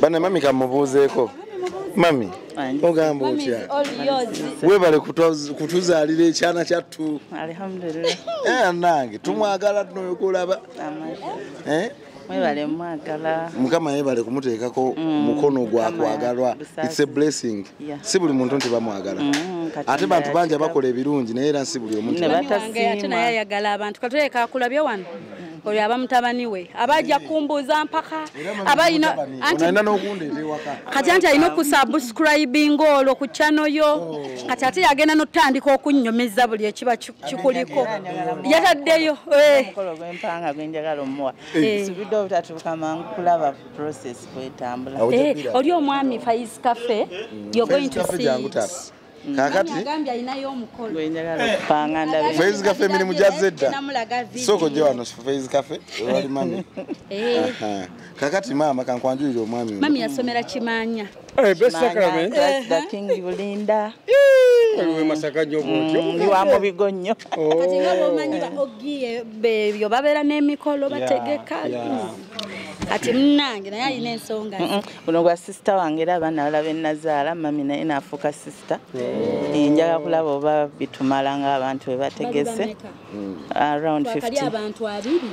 bana mami kamubuuzeeko mami ogamba otya webale kutuzaalira ekyana kyattu nange tumwagala noyokulaba mwebale mwagala mukama yebale kumuteekako mm, mukono gwa kwagalwa its a blessing si buli muntu nti bamwagala mm, ate bantu bangi abakola ebirungi naye era si buli omuntuayagala abantu katuleka akulabye wano oyo aba mutabani we abaja kumbuuza mpaka abalina kati anti alina okusubscribinga olwo ku chano yo oh. kati ate yagenda notandika okunnyumiza buli ekiba kikuliko yataddeyo eh. omukolo gwempanga gwenjagala omuwa eh. nsubidde obutatuuka mangu kulaba process kwetambula eh, oli omwami fais cafe you're going to see mm. kakati faiz cafe emirimu gyazze dda sooko gye wano faiz cafe ewali mami kakati maama kankwanjulire omwami mami yasomera kimanya Hey, best sacrament. That's the king you Linda. Ewe masaka nyo bwotyo. Mm, you are mubigo nyo. Oh. Kati nga bomanyi ba ogie bebyo babera ne mikolo bategeka. Kati mnange naye alina ensonga. Uno gwa sister wange era abana balabe nazaala mami naye nafuka sister. Eh, njaga kulaba oba bitumala nga abantu bebategese. Mm. Around 50. Bakali abantu abiri.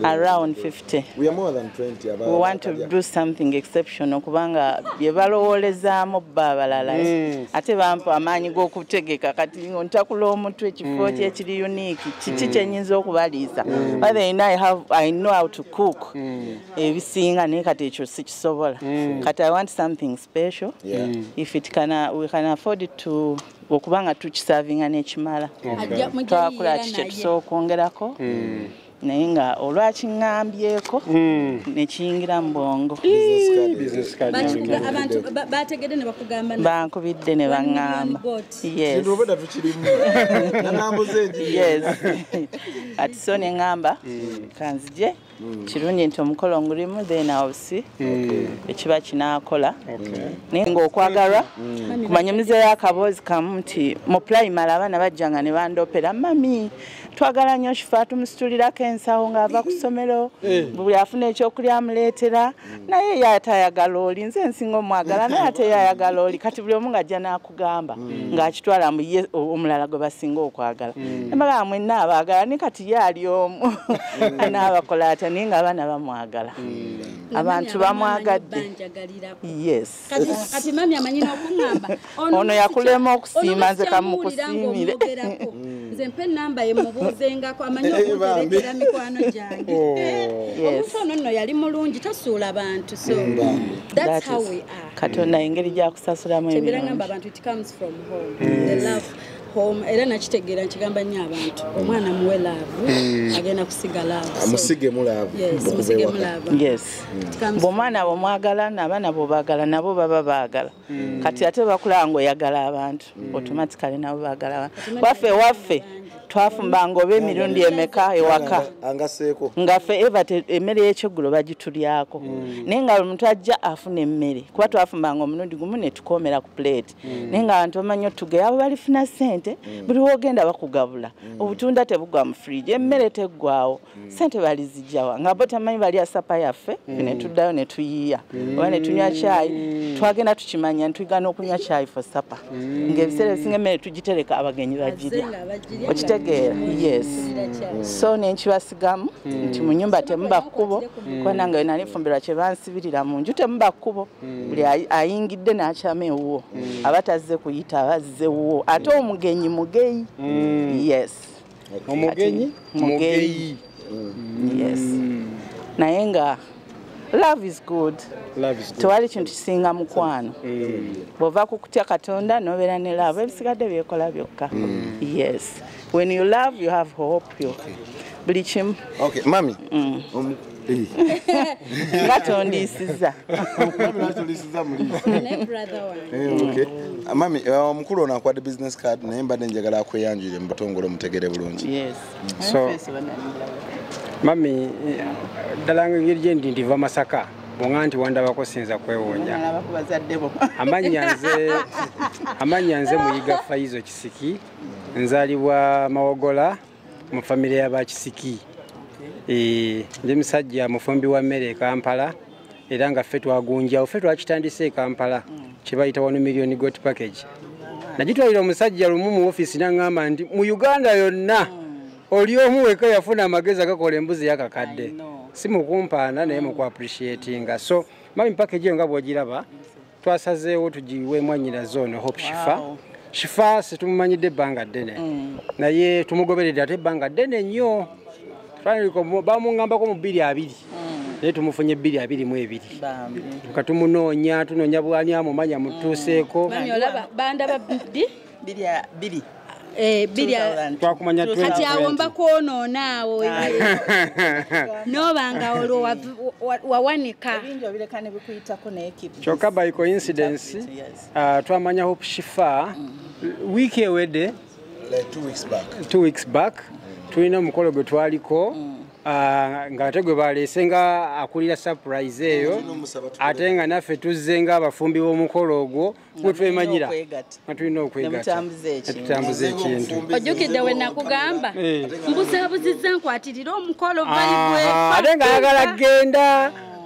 around 50 we, more than 20 about we want to do something exceptional kubanga bye balowoolezaamu bba abalala mm. ate bampa amaanyi g'okutegeka kati ntakula omutwe ekifo mm. kyekiri unique kiki mm. kyenyinza okubaliisa mm. but then I, have, i know how to cook mm. ebisinga mm. naye kati ekyo sikisobola mm. kati i want something special yeah. mm. if it can, uh, we can afford to okuba nga tukisavinga nekimala twakola ki kyetusobola okwongerako hmm. naye nga olwakiŋambyeko hmm. nekiyingira mu bwongo bankubidde ne baŋamba kati so ne ŋamba hmm. kanzije Mm. kirungi nti omukolo ngulimu then awusi mm. ekiba kinakola naye ngaokwagalwa mm. kumanya omuzeeyo akaboozi kamu nti mu pulayimale abaana bajjanga ne bandopera mami twagala nnyo shifa tumusitulirako ensawo ng'ava ku ssomero eh. buli afuna ekyokulya amuleetera naye ye atayagala oli nze nsinga omwagala naye ate yayagala oli kati buli omu ng'ajja n'aku gamba mm. ng'akitwala mu ye omulala gwe basinga okwagala mm. emagamba mwenna abaagala ne kati ye ali omu mm. anaabakola atya naye nga abaana bamwagala mm. abantu bamwagadde yes ono yakulema okusiima nze kamukusiimire mm. nze mpa enamba ye mubuuzengako amanyi eh, okuterekera mikwano gyange oh. eh, omuntu ono nno yali mulungi tasuula bantu so that's how we are katonda engeri gyakusasulamu ebirangamba abantu it comes from home the love home era nakitegeera nkigamba nnyo abantu omwana muwe laavu mm. agenda kusiga laavumusige mulaavuomwana bwemwagala naabaana bwebagala nabo baba baagala mm. kati ate bakulaba ngaoyagala abantu abantu mm. automatically nabo bagala abantu waffe waffe twafumbanga oba emirundi emeka ewaka ngafe eva emmere yekyeggulo bagitulyako mm. naye nga omuntu ajja afuna emmere kuba twafumbanga omulundi gumu netukomera ku plate mm. naye nga abantu bamanyi otugeyo abo balifuna sente mm. buli wogenda bakugabula obutunda tebugwa mu fridge emmere teggwawo mm. sente balizijawa nga bo tamanyi bali asapa yaffe mm. netuddayo netuyiiya mm. oba netunywa kyayi mm. twagenda tukimanya ntwigana okunywa kyayi fo sapa mm. ngaebiseera ebisinga emmere tugitereka abagenyi bagirya okitegeera yes mm. so nenkibasigamu mm. nti mu nyumba temuba kkubo mm. kubana nga wenali nfumbirwa kye bansibirira mu nju temuba kkubo mm. buli ayingidde n'akyama ewuwo mm. aba tazze kuyita abazze wuwo ate omugenyi mugeyi mm. yes omugenyi mugeyi yes mm. naye nga love is good tewali kintu kisinga mukwano mm. bwova kukutya katonda nobeera ne love ebisigadde byekola byokka mm. yes when you love you have hope yo buli kimu mami nga tondiisiza mami omukulu ono akwade business card naye mbadde njagala akweyanjire mu butongole omutegere bulungi mami ddala nga engeri gyendi ndiva masaka bonga nti wandabako sinza kwewuunya amannya nze amannya nze muyiga faizo kisiki nzalibwa mawogola mu famire ya bakisiki eh, ndi musajja mufumbi wa mmere ekampala era nga ffe twagunjawo ffe twakitandise ekampala kyebayita wano million got package nagitwalira omusajja lumu mu ofiisi naŋŋamba nti mu uganda yonna oli omu weka yafuna amagezi agakola embuzi yakakadde si mukumpaana naye mukuappreciatinga so mami package eyo nga bwogiraba twasazeewo tugiwe mwanyina zone hope shifa wow. shifa situmumanyidde ebbanga ddene mm. naye tumugoberedde ate ebbanga ddene nnyo bamuŋambako mu bbiri abiri mm. naye tumufunye ebbiri abiri mu ebiri katumunoonya tunoonya bwani amumanya mutuuseeko mm. Eh, kati awo mba kwonoona awo noba nga olwo wawanika kyokka by coincidence uh, twamanya hope shifa mm-hmm. wiiki ewedde two weeks back tulina omukolo gwe twaliko mm. Ah, nga ate gwe baleese nga akulira surprise eyo ate nga naffe tuzze nga abafumbi b'omukolo ogwo wetwemanyira nga tulina okwegatatutambuza ekintu ojjukidde we nakugamba eh. mbuzabuziza nkwatirire omukolo ate nga ayagala kgenda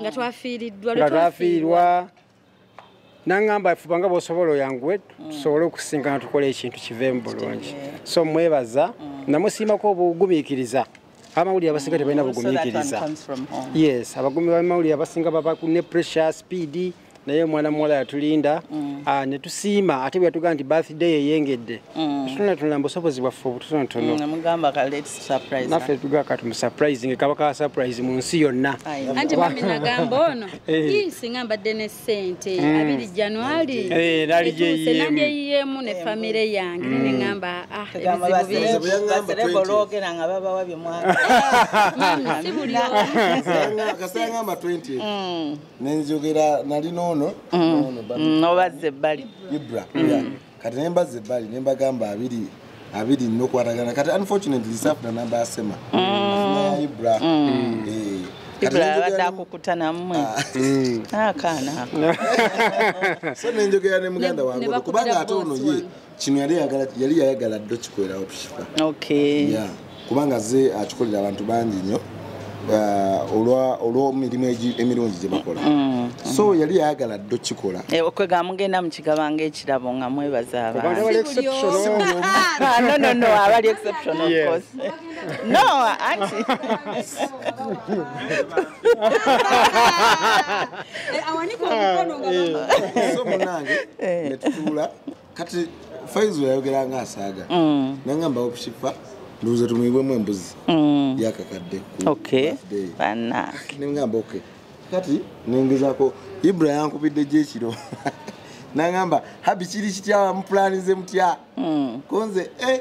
nga twafiiriddwa nga twafiirwa nangamba fuba nga bwosobola oyanguwe tusobole okusinkana tukole ekintu kiveemu bulungi so mwebaza namusiimako obugumiikiriza abamawulire abasinga tebalina bugumiikiriza yes abagumi bamawulire abasinga baba ne pressure speed naye omwana muwala yatulinda mm. ah, ne tusiima ate bwe yatugamba nti birthday eyengedde mm. tunatunula mubusobozi bwaffe obutonotononaffe mm, tugaka tumusurprising kaba ka surprise mu nsi yonna anti mami nagamba ono eh. singa mbadde ne sente abiri januari eh, naliyeyiyemu ne famire yange neneamba ah, ebizibu bingi nenzogera nali nono mm. nobazza ebbali ibra mm. kati nembazza ebbali nembagamba abiri abiri nokwatagana kati unfortunately safuna namba yasema mm. ibra eh. abadde akukuta namwe ah. akaana ah, so nenjogera ne muganda wange kubanga ate ono ye kino yali yagala yali yayagala ddo kikolerawo tushifa okay yeah kubanga ze akikolera abantu bangi nnyo uh, olwa olw'emirimu emirungi gye bakola mm, mm. so yali yayagala ddo kikola eh, okwega mugenda mukigaba ng'ekirabo nga mwebaza abantuno ah, abali exception of course no anti eh, awanika omukono nga eh. so munange netutuula kati faizo yayogera nga asaaga mm. nangamba okushifa nduuza tumuyibwemu embuzi mm. yakakadde nengamba ok kati nengezako ibra yankubidde gyekiro nangamba habi kiri kitya mupulanize mutya mm. konze eh,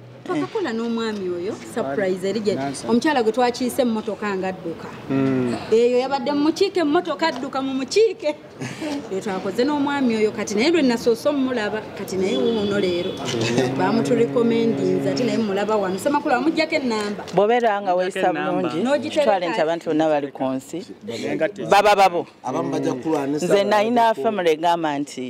twakakola n'omwami oyo surprise eri gye omukyala gwe twakiise emmotoka nga adduka hmm. eyo yabadde mumukiike emmotoka adduka mu mukiike eyo twakoze n'omwami oyo kati naye lwe nasoose omumulaba kati naye wuuno leero hmm. bamuturekomendinza ati naye mumulaba wano semakulu amugjako enamba bwobeera nga weyisa bulungi kitwale nti abantu bonna bali ku nsi baba babo nze nayina famire egamba nti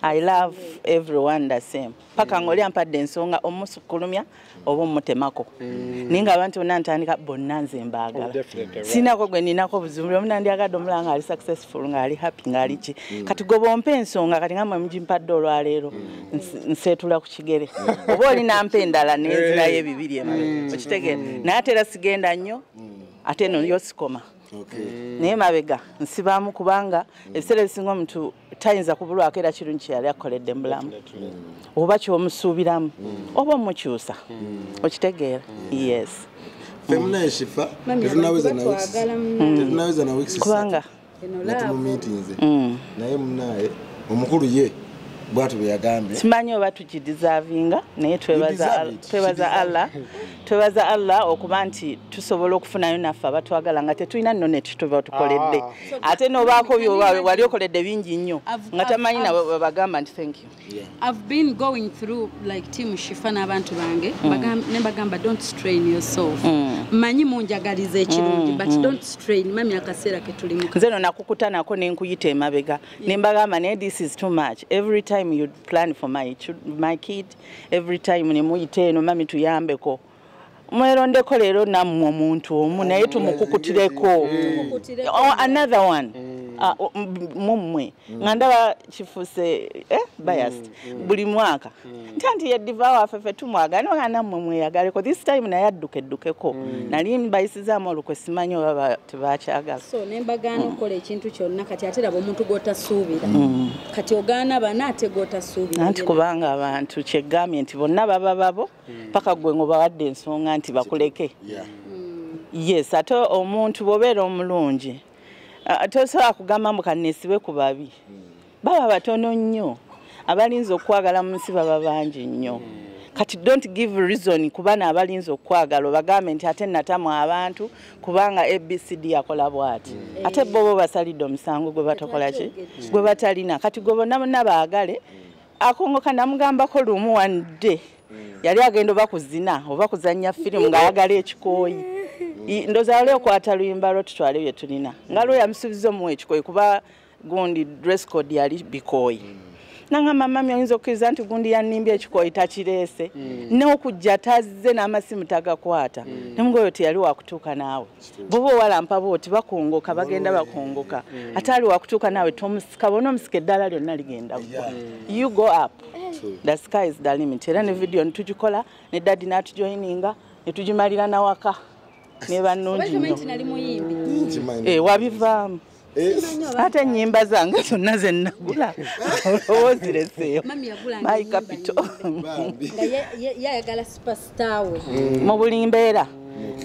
I love everyone the same. Paka ngoli ampadde ensonga omusukulumya oba omutemako. Mm. Ninga abantu bonna ntandika bonna nze mbaagala. Oh, Sinako gwe ninako buzibu buli omu nandyagadde omulaba ng'ali successful ng'ali happy ng'ali ki. Mm. Kati gwe bw'ompa ensonga kati nga mwe mugimpadde olwaleero mm. nseetula ku kigere. Oba oli nampa endala n'enzirayo ebibiri emu. Okitegeera naye ate era sigenda nnyo ate eno yo sikoma. Mm. naye mabega nsibamu kubanga mm. ebiseera ebisinga omuntu tayinza kubulwako era kirungi kyeyali akukoledde mubulamu mm. oba kyomusuubiramu oba omukyusa okitegeera yes kubanga naye munaye omukulu ye bwatu bweyagambye simanyi oba tukidizavinga naye twebaza allah twebaza allah okuba nti tusobola okufunayo naffe abatwagala nga tetulina nno netutuba tukoledde ah. ate nobaako wali okoledde bingi nnyo nga tamanyi nawe webagamba nti thank you i've been going through like team shifa n'abantu bange mm. ne bagamba don't strain yourself mm. manyi munjagaliza ekirungi mm, but don't strain mami akaseera ketulimu nze no nakukutanako nenkuyita emabega nembagamba naye this is too much every time you plan for my, my kid every time ne muyita eno mami tuyambeko mwerondeko leero nammwe omuntu omu naye tumukukutireko oh, another one mm. Ah, mummwe mm. nga ndaba kifuse eh, biased mm, mm. buli mwaka nta nti yediva waffe fe tumwagala no nga nammwe mweyagaleko this time naye adduka eddukeko nali mbayisizaamu olukwe simanyi oba tebakyagala so nembagaana okukola ekintu kyonna kati ate laba omuntu gwotasuubira kati ogaana bana ate gwotasuubira anti kubanga abantu kyegambye nti bonna baba babo hmm. paka gwe ngobawadde ensonga nti bakuleke yes ate omuntu bwobeera omulungi tosobola kugamba mbu kanesibe ku babi hmm. baba batono nnyo abalinza okwagala mu nsi baba bangi nnyo hmm. kati don't give reason kubana abalinza okwagala obagambe nti ate natamwa abantu kubanga abcd akola bwati mm. ate bobo basalidde omusango gwe batakola ki mm. gwe batalina kati gwe bonna bonna baagale mm. akongoka namugambako lumu one day yali agenda oba kuzina oba kuzannya firimu ng'ayagala ekikooyi ndoza wali okwata luyimba lwo tutwale bye tulina nga lwo yamusuubiza omuwa ekikooyi kuba gundi dress code yali bikooyi mm. nangamba mami oyinza okukkiriza nti gundi yanimbye ekikooyi takireese mm. neokujja tazze n'amasimu tagakwata mm. nemuga oyo teyali wakutuuka naawe boba owalampa booti bakongoka bagenda bakongoka mm. ate ali wakutuuka naawe tomusika bona omusika eddala lyonna ligenda gwa you go up the sky is the limit era ne vidiyo nitugikola ne dadi n'atujoyininga netugimalira nawaka nebanungi nyo eh, wabivaamu ate enyimba zange zonna zenagula olowoozireseeyo my capital mm. mu buli mbeera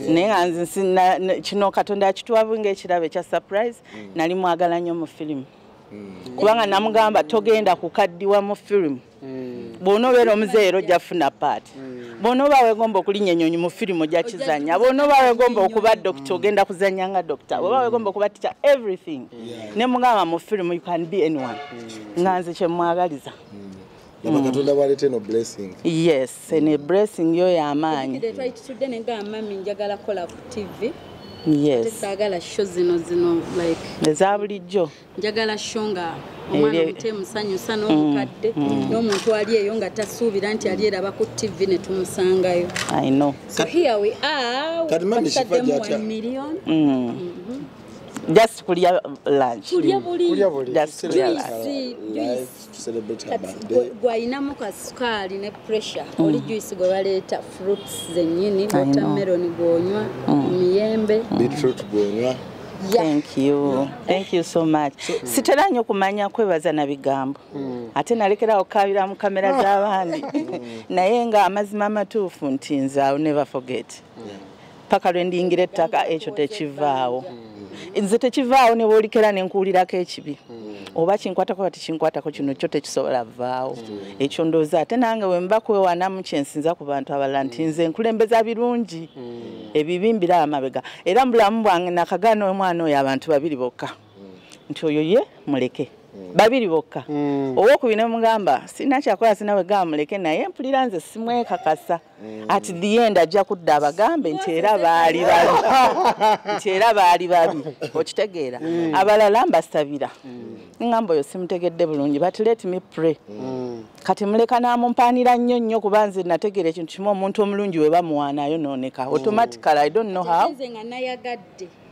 naye nga nze kino katonda yakitwabu ngaekirabo ekya surprise mm. nali mwagala nnyo mu firimu mm. kubanga namugamba togenda kukaddiwa mu firimu mm. bwona obeera omuzeeyi era ojja funa paati mm. bwona oba wegomba okulinya enyonyi mu firimu ojja kizanya bwona oba wegomba okuba dokita mm. ogenda kuzanya nga dokita oba wegomba okuba ticha everything ne mugamba mu firimu you can be anyone nga nze kyemwagaliza katonda bwaleta eno blessing yes ene blessing yo yamaanyi twakitudde nenga mami njagala kola ku tv yes saagala sho zino zino like eza bulijjo njagala sho nga omwana omute musanyusa mm, n'omukadde mm. n'omuntu ali eyo nga tasuubira nti ali eraba ku ttivi ne tumusangayo just kulya lunch kulya buli just kulya lunch gwalinamu ka sukaali ne pressure mm. oli juice gwe baleeta fruits zenyini watermelon gwonywa mm. miyembe beetroot gwonywa thank you thank you so much sitera nyo kumanya kwebaza na bigambo mm. ate nalekerawo kukabira mu kamera ah. z'abandi naye nga amazima amatuufu nti nze ill never forget paka lwe ndiyingira ettaka ekyo tekivaawo nze tekivaawo ne bwolikera ne nkuwulirako ekibi oba kinkwatako kati kinkwatako kino kyo tekisobola vaawo ekyo ndooza ate nange wemba kwewanamu kyensinza ku bantu abalala nti nze nkulembeza birungi ebibi mbiraba mabega era mu bulamu bwange nakagaana omwana oyo abantu babiri bokka nti oyo ye muleke Mm. babiri bokka mm. owokubina mugamba sina kyakola sinawe gamuleke naye mpulira nze simwekakasa mm. at the end ajja kudda abagambe nti era baali babi nti era baali babi okitegeera mm. abalala mbasabira mm. ngamba oyo simutegedde bulungi but let me pray kati muleka namumpaanira nnyo nnyo kuba nze nategeera ekintu kimu omuntu omulungi we bamuwaana ayonooneka automatically i don't know how